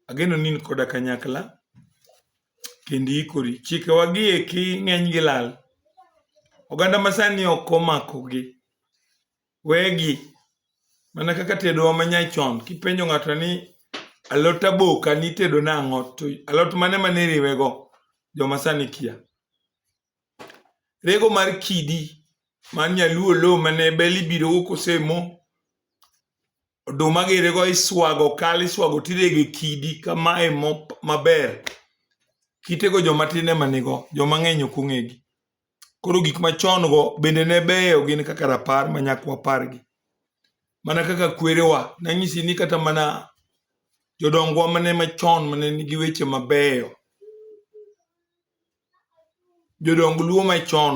Ageno ni in koda kanyakla kendo iikori. Chikewa gi eki ng'eny gi lal. Oganda masani ok omako gi. Wegi mana kaka tedowa ma nyachon kipenjo ng'ato ni alot aboka nitedo nang'o to alot mane mane iriwego joma sani kia. rego mar kidi mar nyaluo lo mane bel ibiro go kosemo oduma girego iswago kal iswago tirege kidi kamae maber kitego joma tin ema nigo joma ng'eny ok ong'egi koro gik machon go bende ne beyo gin kaka rapar ma nyakwa pargi mana kaka kwerewa nanyisi ni kata mana jodongwa mane machon mane nigi weche mabeyo jodong luo machon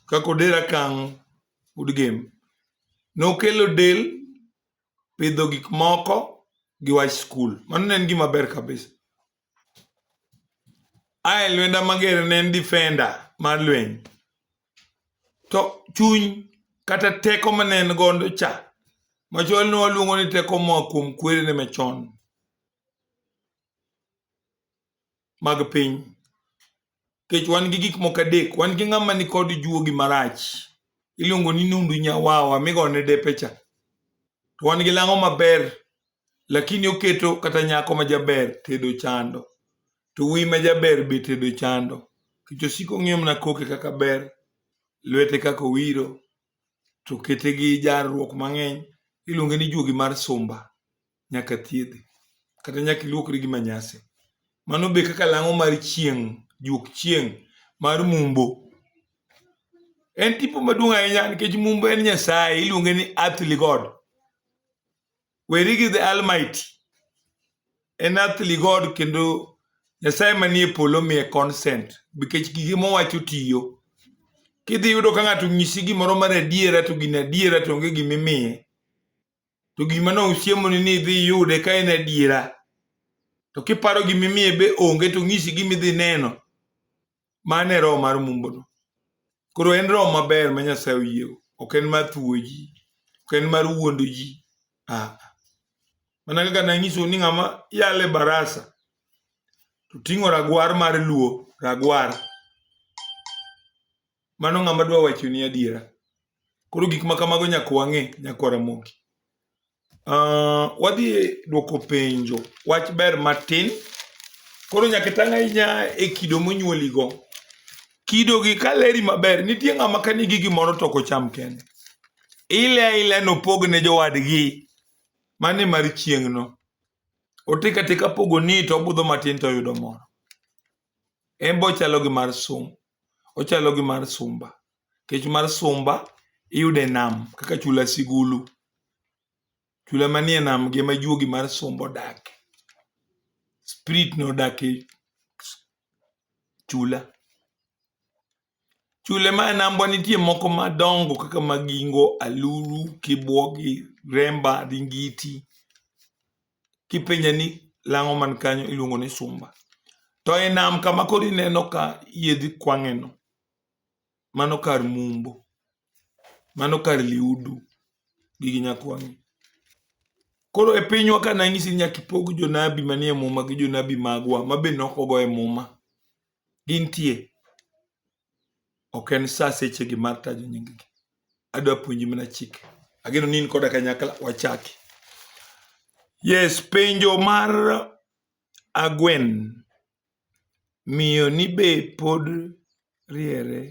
kaka odera kang udgem nokelo del pidho gik moko gi wach skul mano ne en gima ber kabisa ae lwenda mager ne en defender mar lweny to chuny kata teko mane en godo cha machon ne waluongo ni teko moa kuom kwerene machon mag piny kech wan gi gik moko adek wan gi ng'ama ni kod juogi marach iluongo ni nundu nyawawa migone depecha to wan gi lang'o maber lakini oketo kata nyako ma jaber tedo chando to wuoyi ma jaber be tedo chando kech osiko ng'iyo mana koke kaka ber lwete kaka owiro to kete gi jarruok mang'eny iluonge ni juogi mar sumba nyaka thiedhi kata nyaka iluokri gi manyasi mano be kaka lang'o mar chieng' juok chieng' mar mumbo en tipo maduong' ahinya nikech mumbo en nyasaye iluonge ni earthly god weri gi the almighty en earthly god kendo nyasaye manie polo miye consent nikech gige mowacho tiyo kidhi yudo ka ng'ato nyisi gimoro mar adiera to gin adiera to onge gimimiye to gima ne osiemoni ni idhi iyude ka en adiera to kiparo gima imiye be onge to ng'isi gima idhi neno mano e roho mar mumbono koro en roho maber ma nyasaye oyiego ok en mar thuwo ji ok en mar wuondo ji ah. mana kaka nanyiso ni ng'ama yale barasa to ting'o ragwar mar luo ragwar mano ng'ama dwa wacho ni adiera koro gik ma kamago nyaka wang'e nyaka waramoki uh, ah, wadhi e dwoko penjo wach ber matin koro nyaka tang' ahinya e kido monyuoligo kido gi ka leri maber nitie ng'ama ka nigi gimoro to kocham kende ile aila nopog ne jowadgi mane mar chieng'no otika tika pogo ni to obudho matin to oyudo moro en bochalo gi mar sum Ochalo gi mar sumba. Nikech mar sumba iyudo e nam kaka chula sigulu. Chula manie nam gi ema juogi mar sumba odake. Spirit no odak e chula. Chula mae nambwa nitie moko madongo kaka Magingo, Aluru, Kibuogi, Remba, Ringiti. kipenja ni lang'o man kanyo iluongo ni sumba to e nam kama koro ineno ka yiedhi kwang'eno mano kar mumbo mano kar liudu gi gi nyakwang'e koro e pinywa ka nanyisi nyaka ipog jonabi manie muma gi jonabi magwa ma be nokogo e muma gintie ok en sa sechegi mar tajo nyinggi adwa puonji mana chike ageno ni in koda kanyakla wachaki yes penjo mar agwen miyo ni be pod riere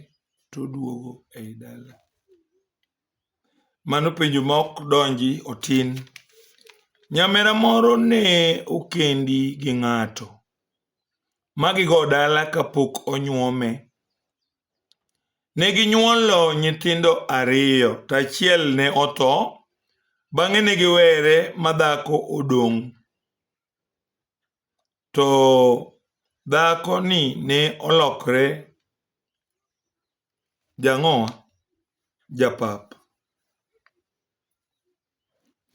to duogo ei dala mano penjo ma ok donji otin nyamera moro ne okendi gi ng'ato magigo dala kapok onyuome. Ne ginyuolo nyithindo ariyo to achiel ne otho, bang'e ne giwere ma dhako odong'. To dhakoni ne olokre jang'owa japap.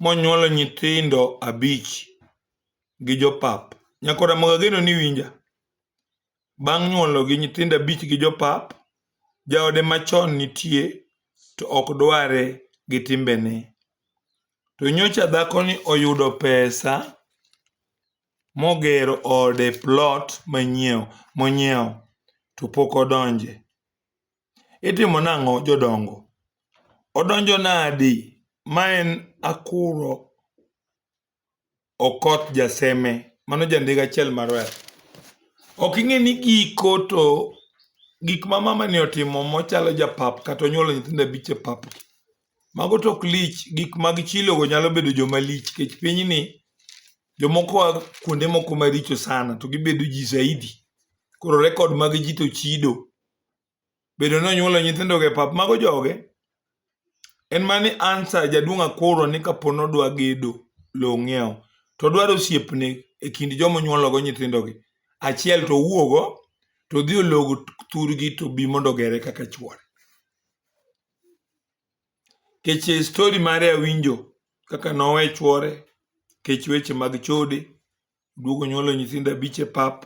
monyuolo nyithindo abich gi jopap. Nyako Ramogi ageno ni iwinja. Bang' nyuolo gi nyithindo abich gi jopap, jaode machon nitie to ok dware gi timbene. To nyocha dhakoni oyudo pesa mogero ode plot monyiewo to pok odonje. Itimo nang'o jodongo? Odonjo nadi? Ma en Akuro Okoth Jaseme, mano jandik achiel mar wer. Ok ing'e ni giko to gik ma mamani otimo mochalo japap kata onyuolo nyithindo abich e pap, mago to ok lich. Gik mag chilogo nyalo bedo joma lich nikech pinyni jomoko a kuonde moko maricho sana to gibedo ji zaidi. Koro rekod mag ji to chido. bedo ni onyuolo nyithindogo e pap mago joge en mani ansa jaduong' akoro ni kapo nodwa gedo lowo ng'iewo to dwaro osiepne e kind joma onyuologo nyithindogi achiel to owuogo to odhi olog thurgi to bi mondo ogere kaka chuore kech e stori mare awinjo kaka nowe chuore kech weche mag chode duogo nyuolo nyithindo abich e pap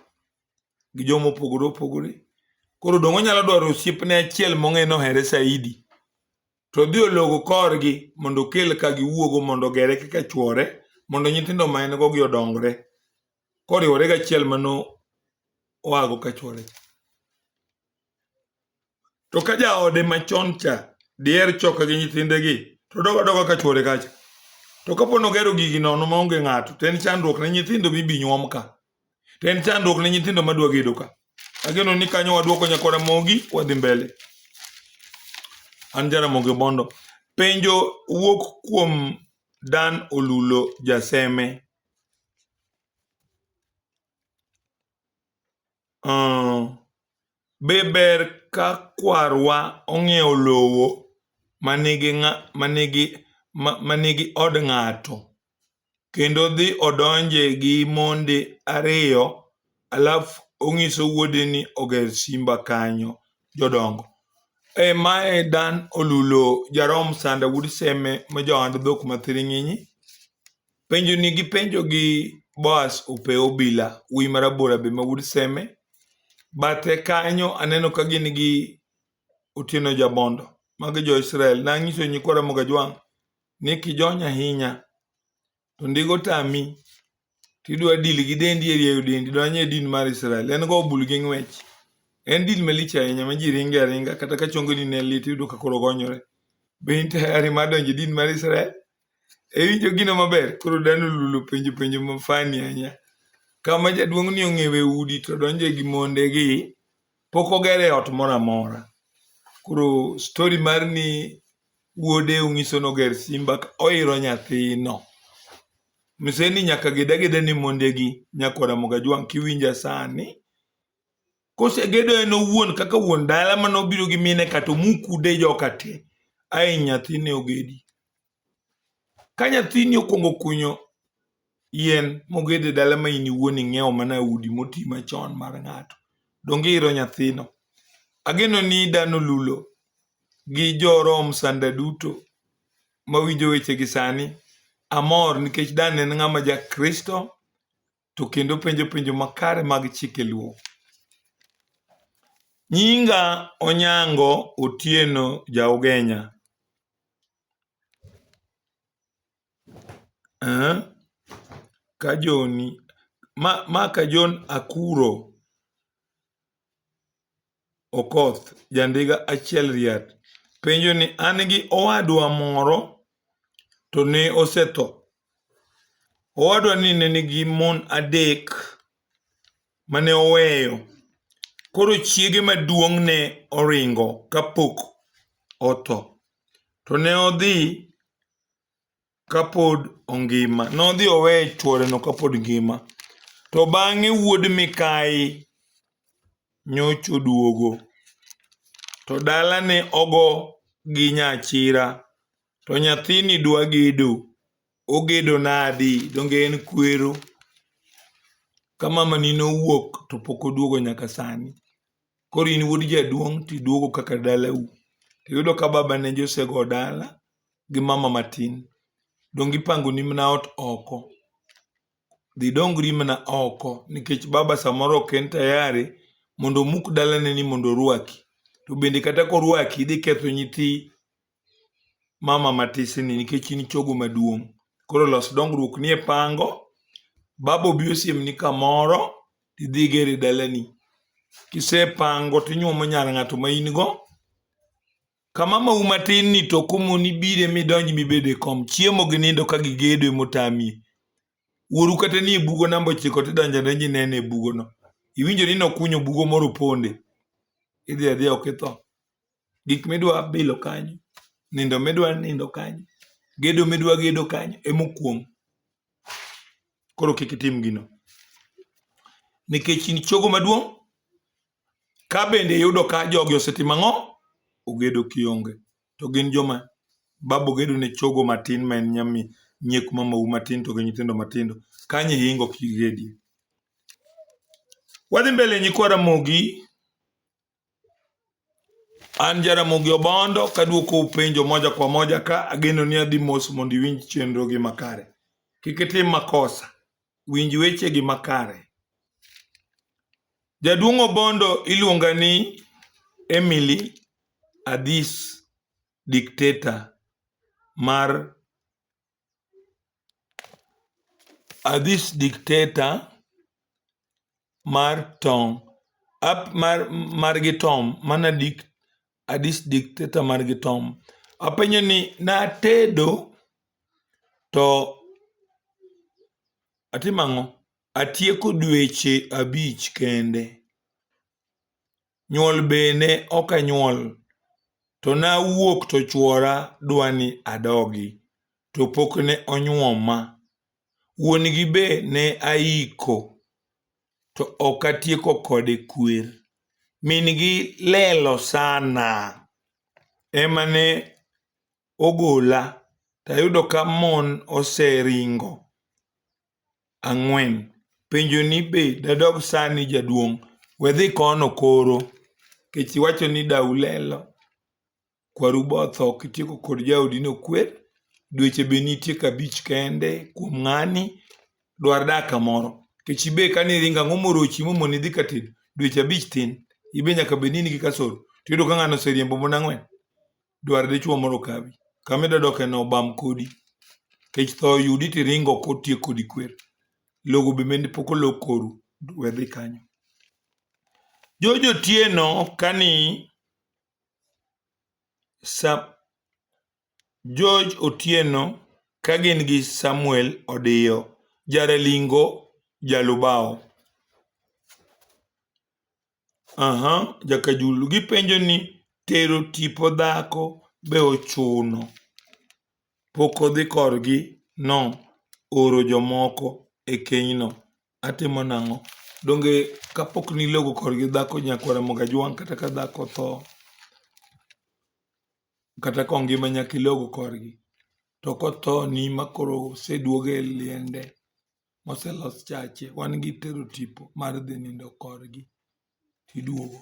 gi joma opogore opogore koro dongo nyalo dwaro osiepne achiel mong'e nohere saidi to dhi ologo korgi mondo okel ka giwuogo mondo ogere kaka chwore mondo nyithindo ma en go gi odongre koriwore gachiel mano oago ka chwore to ka jaode machon cha diher choka gi nyithindegi to dogo adoga ka chwore kacha to kapo nogero gigi nono maonge ng'ato to en chandruok ne nyithindo mibi nyuom ka to en chandruok ne nyithindo madwa gedo ka ageno ni kanyo wadwoko nyakora mogi wadhi mbele an jaramogi bondo penjo wuok kuom dan olulo jaseme Be ber ka kwarwa ong'iewo lowo manigi od ng'ato kendo odhi odonje gi monde ariyo alafu onyiso wuode ni oger simba kanyo jodongo? Ee ma e Dan Olulo Jarom Sanda wuod Seme ma ja ohand dhok ma thiring'inyi. Penjo ni gi penjo gi Boas Ope Obila, wuoyi ma rabora be ma wuod Seme. Bathe kanyo aneno ka gin gi Otieno Jabondo, magi jo Israel. Nanyiso nyikwa Ramogi Ajwang' ni kijony ahinya to ndigo tami tidwa dil gi dendi e rieyo dendi donj e din mar Israel. En go bul gi ng'wech. En dil malich ahinya ma ji ringe aringa kata ka chongoni ne lit iyudo ka koro gonyore. Be in tayari mar donjo e din mar Israel? Ewinjo gino maber? Koro dano lulu penjo penjo ma funny ahinya. Kama jaduong' ni ong'ewe udi to donje gi monde gi pok ogere ot moro amora. Koro story mar ni wuode ong'iso noger simba ka oiro nyathino. Mise ni nyaka geda geda ni monde gi nyako Ramogi Ajwang' kiwinja sani kosegedo en owuon kaka wuon dala mane obiro gi mine ka to mukude joka te ae nyathine ogedi ka nyathini okwongo kunyo yien mogede dala ma in iwuon ing'iewo mana udi moti machon mar ng'ato donge iro nyathino ageno ni dano lulo gi jorom sanda duto mawinjo wechegi sani amor nikech dan en ng'ama jakristo to kendo penjo penjo makare mag chike luo. Nyinga Onyango Otieno Jaugenya. Eh? Kajoni ma, ma Kajon Akuro Okoth, ja ndiga achiel riat, penjo ni an gi owadwa moro to ne osetho. Owadwa ni ne nigi mon adek mane oweyo. Koro chiege maduong' ne oringo kapok otho. To ne odhi kapod ongima. Nodhi oweyo chworeno kapod ngima. To bang'e wuod mikayi nyocha oduogo. To dalane ogo gi nyachira. To nyathini dwa gedo. Ogedo nadi? Donge en kwero? Ka mamani nowuok to pok oduogo nyaka sani. Koro in wuod jaduong' tiduogo kaka dalau. Tiyudo ka baba ne josego dala gi mama matin. Donge ipangoni mana ot oko? Dhi idongri mana oko nikech baba samoro ok en tayari mondo omuk dalaneni mondo orwaki. To bende kata korwaki idhi ketho nyithi mama matisini nikech in chogo maduong'. Koro los dongruok ni e pango, baba obi osiemni kamoro, tidhi igere dalani. Kisepango tinyuomo nyar ng'ato ma in go, ka mamau matin ni to komoni bire midonj mibede kom. Chiemo gi nindo ka gigedo emotamie. Wuoru kata nie bugo namba ochiko tidonjo donjo inene e bugono. Iwinjo ni nokunyo bugo moro ponde. Idhi adhiya ok itho. gik midwa bilo kanyo, nindo midwa nindo kanyo, gedo midwa gedo kanyo ema okuong'. Koro kik itim gino. Nikech in chogo maduong', ka bende iyudo ka jogi osetimo ang'o? Ogedo kionge. To gin joma babu gedo ne chogo matin ma en nyami nyiek mamau matin to gi nyithindo matindo. Kanyo ihingo ok igedie. Wadhi mbele nyikwa Ramogi. An Jaramogi Obondo kaduoko penjo moja kwa moja ka ageno ni adhi mos mondo iwinj chenro gi makare. Kik itim makosa, winj weche gi makare. Jaduong' Obondo iluonga ni Emily Adhis dictator mar uh, this dictator mar tong up mar margi tom mana dik uh, this dictator margi tom apenyo ni natedo to atimo ang'o atieko dweche abich kende nyuol bene ok anyuol to nawuok to chwora dwani adogi to pok ne onyuoma. Wuon gi be ne aiko to ok atieko kode kwer. Min gi lelo sana ema ne ogola tayudo ka mon oseringo ang'wen. Penjo ni be dadog sani jaduong'? We dhi kono koro. Kech iwacho ni dau lelo, kwaru botho kitieko kod jaodi nokwer, dweche be nitie kabich kende kuom ng'ani, dwar dak kamoro. Kech ibe kane iringo ang'o morochi momoni dhi katedo? Dweche abich tin, ibe nyaka bed ni in gi kasoro. Tiyudo ka ng'ano oseriembo mon ang'wen. dwar dichuo mondo okawi. Kama idwa doke no obam kodi. Kech tho oyudi to iringo kotiek kodi kwer. Logo be mende pok olog koru, we dhi kanyo. Jojo Otieno kani sa George Otieno ka gin gi Samuel Odiyo, Jaralingo, Jalubao. Aha, Jakajulu gipenjo ni tero tipo dhako be ochuno? Pok odhi korgi no oro jomoko e kenyno. Atimo nang'o? Donge kapok nilogo korgi dhako nyakware moga jwang' kata ka dhako otho kata kongima nyaka ilogo korgi. To kothoni ma koro oseduoge e liende. moselos chache wan gi tero tipo mar dhi nindo korgi tiduogo.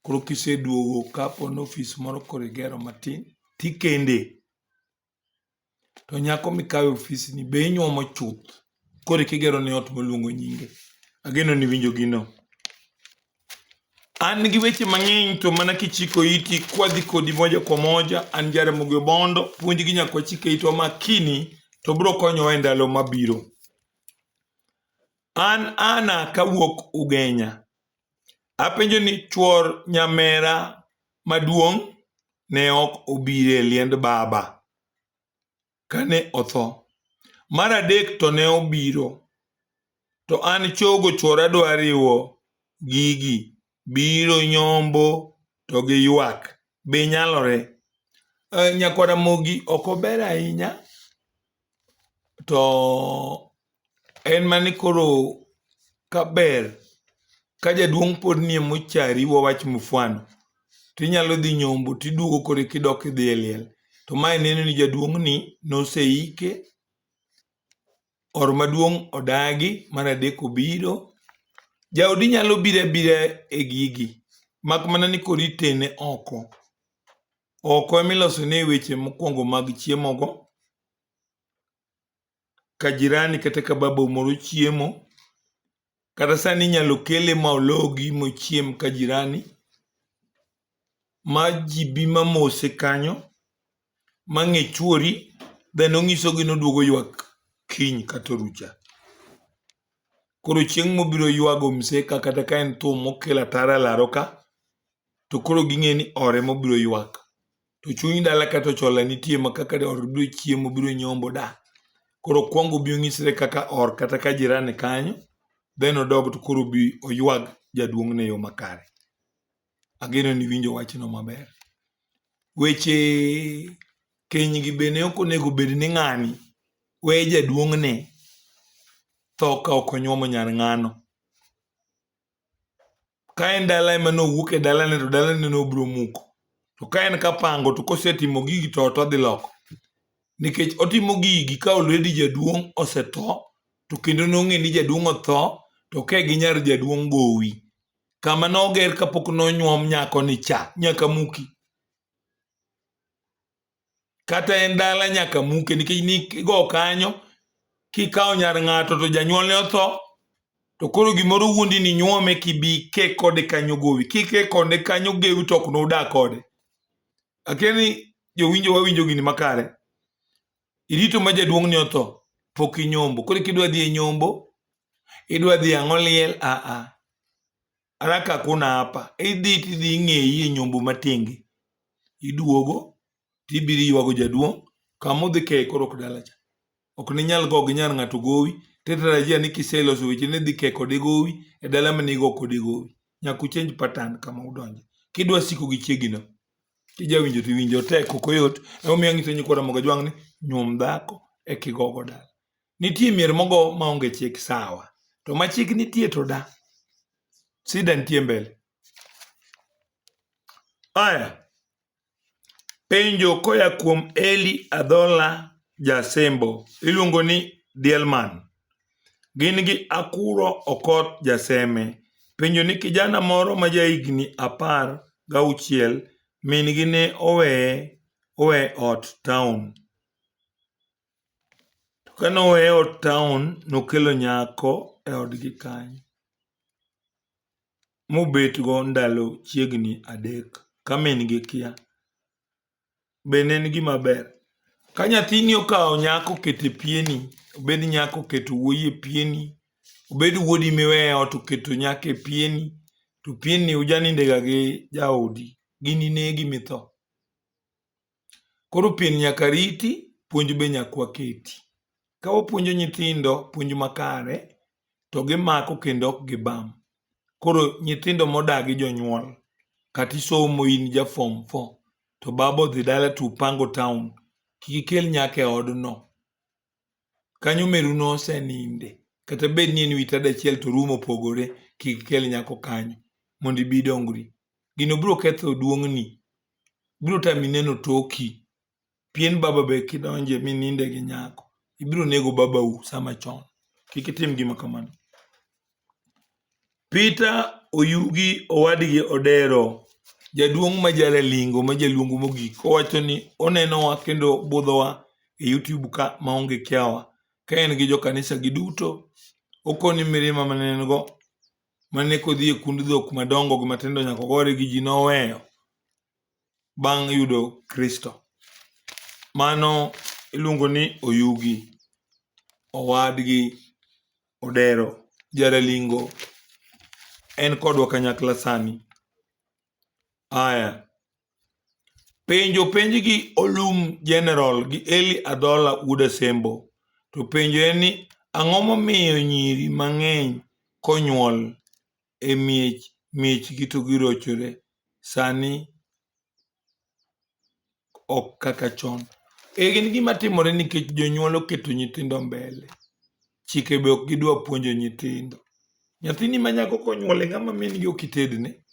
Koro kiseduogo kapo ni ofis moro koro igero matin tikende. To nyako mikawe ofisni be inyuomo chuth koro eka igero ne ot maluongo nyinge. Ageno ni iwinjo gino. An gi weche mang'eny to mana kichiko iti kwadhi kodi moja kwa moja. An Jaramogi Obondo, puonj gi nyaka wachike itwa makini to biro konyowa e ndalo mabiro. An Ana kawuok Ugenya. Apenjo ni chuor nyamera maduong' ne ok obire liend baba. kane otho. Mar adek to ne obiro, to an chogo chwora dwa riwo gigi, biro nyombo to gi ywak. Be nyalore? Uh, Nyakwara Mogi ok ober ahinya, to en mane koro kaber ka jaduong' pod nie mochari wawach mufwano to inyalo dhi nyombo to iduogo koro kidok idhi e liel to mae neno ni jaduong'ni noseike or maduong' odagi mar adek obiro jaodi nyalo biro abira e gigi mak mana ni koro itene oko oko emilosone weche mokwongo mag chiemogo ka jirani kata ka babau moro chiemo, kata sani inyalo kele ma ologi mochiem ka jirani ma ji bi ma mose kanyo ma ng'e chwori then ong'isogi ni oduogo ywak kiny kata orucha. Koro chieng' mobiro ywago mse ka kata ka en thum mokelo ataro e laro ka, to koro ging'e ni ore mobiro ywak. to chuny dala kata ochola nitie ma kaka or biro chiemo biro nyombo da koro kwongo bi onyisre kaka or kata ka jirani kanyo then odog to koro bi oywag jaduong' ne yo makare ageno ni winjo wachno maber weche keny gi bende ok onego bed ni ng'ani we jaduong' ne tho ka ok onyuomo nyar ng'ano ka en dala ema nowuok e dalane to dalane nobiro muko to ka en kapango to kosetimo gigi to ot odhi loko nikech otimo gigi ka olredi jaduong' osetho to kendo nong'e ni jaduong' otho to ke gi nyar jaduong' gowi kama noger kapok nonyuom nyako ni cha nyaka muki kata en dala nyaka muke nikech nigo kanyo kikawo nyar ng'ato to janyuolne otho to koro gimoro wuondi ni nyuome kibi ke kode kanyo gowi kike kode kanyo gewi to ok nodak kode akia ni jowinjo wawinjo gini makare irito ma jaduong' ni otho pok inyombo koro kidwa dhi e nyombo idwa dhi ang'o liel aa araka kuna hapa idhi tidhi ing'eyi e nyombo matingi iduogo tibiro ywago jaduong' kama udhi keye koro ok dalacha ok ninyal go gi nyar ng'ato gowi tetarajia ni kiseloso weche ni dhi keye kode gowi e dala ma nigo kode gowi nyaka uchenj patan kama udonje kidwa siko gi chiegino kijawinjo tiwinjo tek ok oyot emomiyo ang'iso nyikwa ramoga jwang' ni nyuom dhako e kigogo dala Nitie mier mogo maonge chik sawa, to ma chik nitie to da. Sida nitie mbele. Aya, penjo koya kuom Eli Adhola Jasembo, iluongo ni Dielman. Gin gi Akuro Okot Jaseme. Penjo ni kijana moro ma jahigni apar gauchiel min gi ne oweye owe ot town. To kane oweye ot taon, nokelo nyako e odgi kanyo, mobetgo ndalo chiegni adek ka min-gi kia. Be ne en gima ber? Ka nyathini okawo nyako oketo e pieni, obed nyako oketo wuoyi e pieni, obed wuodi miweyo e ot oketo nyako e pieni, to pienni ujanindega gi jaodi, ginine gimi tho. Koro pien nyaka riti, puonj be nyaka waketi. Ka wapuonjo nyithindo puonj makare, to gimako kendo ok gibam. Koro nyithindo modagi jonyuol, kata isomo in ja form four, to baba odhi dala to upango town, kik ikel nyaka e odno. kanyo meru noseninde kata bed ni en wi tada achiel to room opogore kik ikel nyako kanyo mondo ibi idongri gino biro ketho duong'ni biro tami neno toki pien baba be kidonje mininde gi nyako ibiro nego babau sama chon kik itim gima kamano Peter Oyugi owadgi Odero, jaduong' ma jalalingo ma jaluongo mogik owacho ni onenowa kendo budhowa e YouTube ka maonge kiawa ka en gi jokanisa gi duto. Okowo ni mirima mane en go mane kodhi e kund dhok madongo gi matindo nyaka ogore gi ji noweyo bang' yudo Kristo. Mano iluongo ni Oyugi owadgi Odero, Jaralingo en kodwa kanyakla sani. Aya, penjo penj gi Olum General gi Eli Adhola wuod Asembo. To penjo en ni ang'o momiyo nyiri mang'eny konyuol e miech miechgi to girochore. Sani ok kaka chon. En gima timore nikech jonyuol oketo nyithindo mbele. Chike be ok gidwa puonjo nyithindo. Nyathini ma nyako konyuol e ng'ama min gi ok itedne.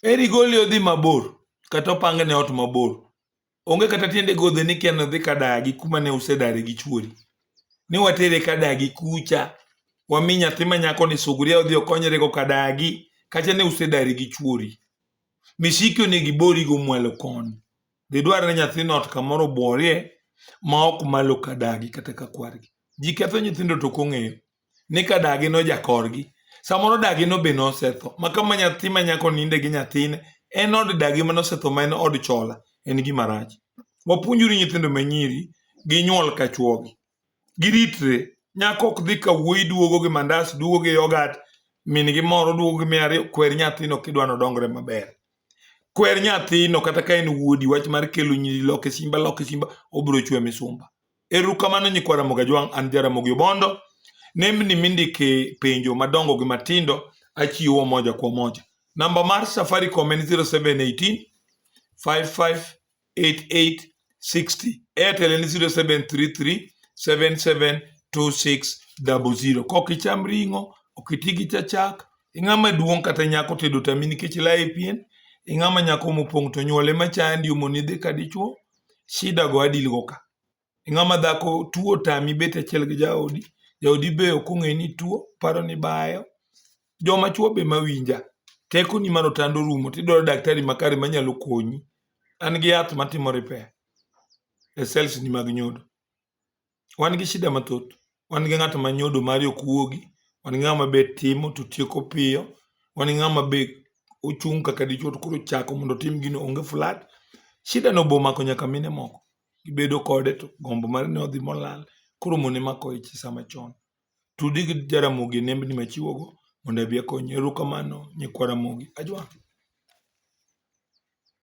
Eri gole odhi mabor kata opangne ot mabor Onge kata tiende godhe ni kia nodhi kadagi kuma ne usedare gi chuori. Ni watere kadagi kucha, wami nyathi ma nyako ni suguria odhi okonyre go kadagi, kacha ne usedare gi chuori. Misiki onego ibori go mwalo koni. Dhi dwarre nyathino ot kamoro obuorie ma ok malo kadagi kata ka kwargi. Ji ketho nyithindo to ok ong'eyo. ni ka dagi nojakorgi samoro dagi no be nosetho ma kama nyathi ma nyako ninde gi nyathine en od dagi ma nosetho ma en od chola en gima rach wapuonjuru nyithindo ma nyiri gi nyuol ka chuogi giritre nyako ok dhi ka wuoyi duogo gi mandas duogo gi yogat min gi moro duogo gi miya ariyo kwer nyathino kidwa nodongre maber kwer nyathino kata ka en wuodi wach mar kelo nyiri loke simba loke simba obiro chwe misumba Erukamano nyikwa Ramogi Ajwang', an Jaramogi Obondo. Nembni mindike penjo madongo gi matindo achiwo moja kwa moja. Namba mar Safaricom en 0718 558860. Airtel en 0733 772600. Kok icham ring'o, ok iti gi chachak, ing'ama duong' kata nyako tedo tami nikech laye pien, ing'ama nyako mopong' to nyuole machandi omoni dhi ka dichuo, shida go adil go ka ng'ama dhako tuo tami bet achiel gi jaodi jaodi be ok ong'e ni tuo paro ni bayo joma chuo be mawinja teko ni mano tando rumo tidwaro daktari makare manyalo konyi an gi yath matimo repair e cells ni mag nyodo wan gi shida mathoth. Wan gi ng'at ma nyodo mare ok wuogi, wan gi ng'ama be timo to tieko piyo, wan gi ng'ama be ochung' kaka dichwo to koro chako mondo otim gino onge flat. Shida no bomako nyaka mine moko, gibedo kode to gombo mar ni odhi molal. Koro mon ema kawo ich e sa machon. Tudi gi Jaramogi e nembni machiwogo mondo abi akonyi. Erokamano nyikwa Ramogi. Ajwang'.